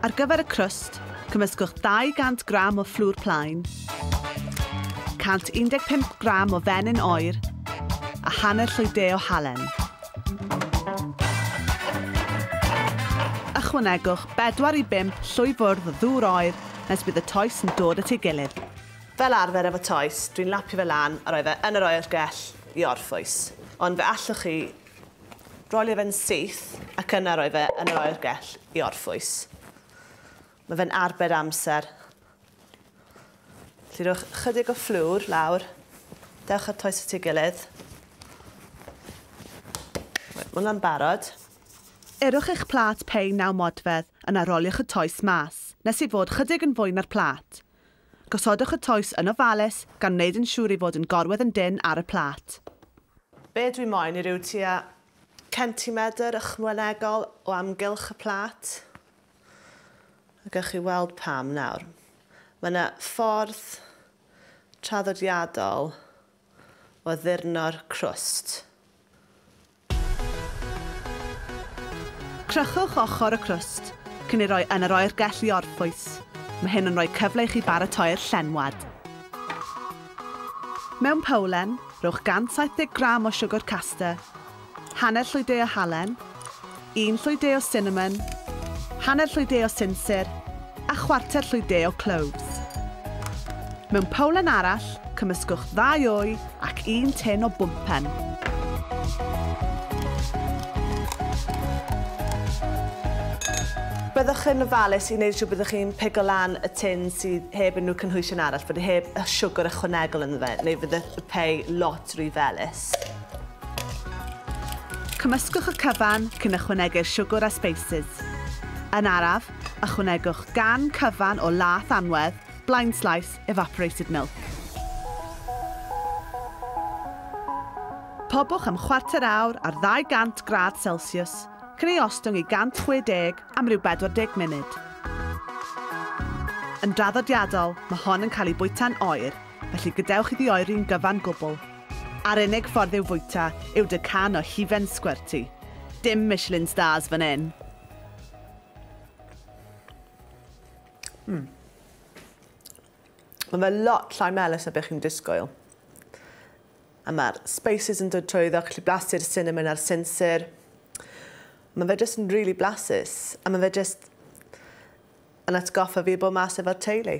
Ar gyfer y crwst, cymysgwch 200 gram o fflwr plaen, 115 gram o fenyn oer a hanner llwy de o halen. Ychwanegwch 4 i 5 llwy fwrdd o ddŵr oer nes bydd y toes yn dod at ei gilydd. Fel arfer efo toes, dwi'n lapio fe lan a rhoi fe yn yr oergell i orffwys, ond fe allwch chi Roedd e'n syth ac yna roedd e yn yr oergell i orffwys. Mae fe'n arbed amser. Felly rhowch chydig o fflwr lawr. Dewch at toes y ti gilydd. Mae hwnna'n barod. Erwch eich plât pei naw modfedd, yna roliwch y toes mas, nes ei fod chydig yn fwy na'r plât. Gosodwch y toes yn ofalus gan wneud yn siŵr ei fod yn gorwedd yn dynn ar y plât. Be dwi moyn yw ryw tua centimedr ychwanegol o amgylch y plât. A gewch chi weld pam nawr. Mae yna ffordd traddodiadol o addurno'r crwst. Crychwch ochr y crwst cyn ei roi yn yr oergell i orffwys. Mae hyn yn rhoi cyfle i chi baratoi'r llenwad. Mewn powlen, rhowch 170 gram o siwgr caster, hanner llwy de o halen, un llwy de o sinamon, hanner llwy de o sinsir, a chwarter llwy de o cloves. Mewn powlen arall, cymysgwch ddau wy, ac un tin o bwmpen. Byddwch yn ofalus i wneud yn siŵr byddwch chi'n pigo lan y tin sydd heb unrhyw cynhwysion arall, bod e heb y siwgr ychwanegol ynddo fe, neu fydd y pei lot rhy felys. Cymysgwch y cyfan cyn ychwanegu'r siwgr a sbeisys. Yn araf, ychwanegwch gan cyfan o laeth anwedd Blind Slice Evaporated Milk. Pobwch am chwarter awr ar 200 gradd Celsius, cyn ei ostwng i 160 am ryw 40 munud. Yn draddodiadol, mae hon yn cael ei fwyta'n oer, felly gadewch iddi oeri'n gyfan gwbl. A'r unig ffordd i'w fwyta yw deg can o hufen sgwerti. Dim Michelin Stars fan hyn! Mm. Mae fe lot llai melys na beth chi'n disgwyl. A mae'r spices yn dod trwy iddo, gallu blasu'r cinnamon a'r sinsir. Mae fe jyst yn rili really blasus. A mae fe jyst yn atgoffa fi bod mas efo'r teulu.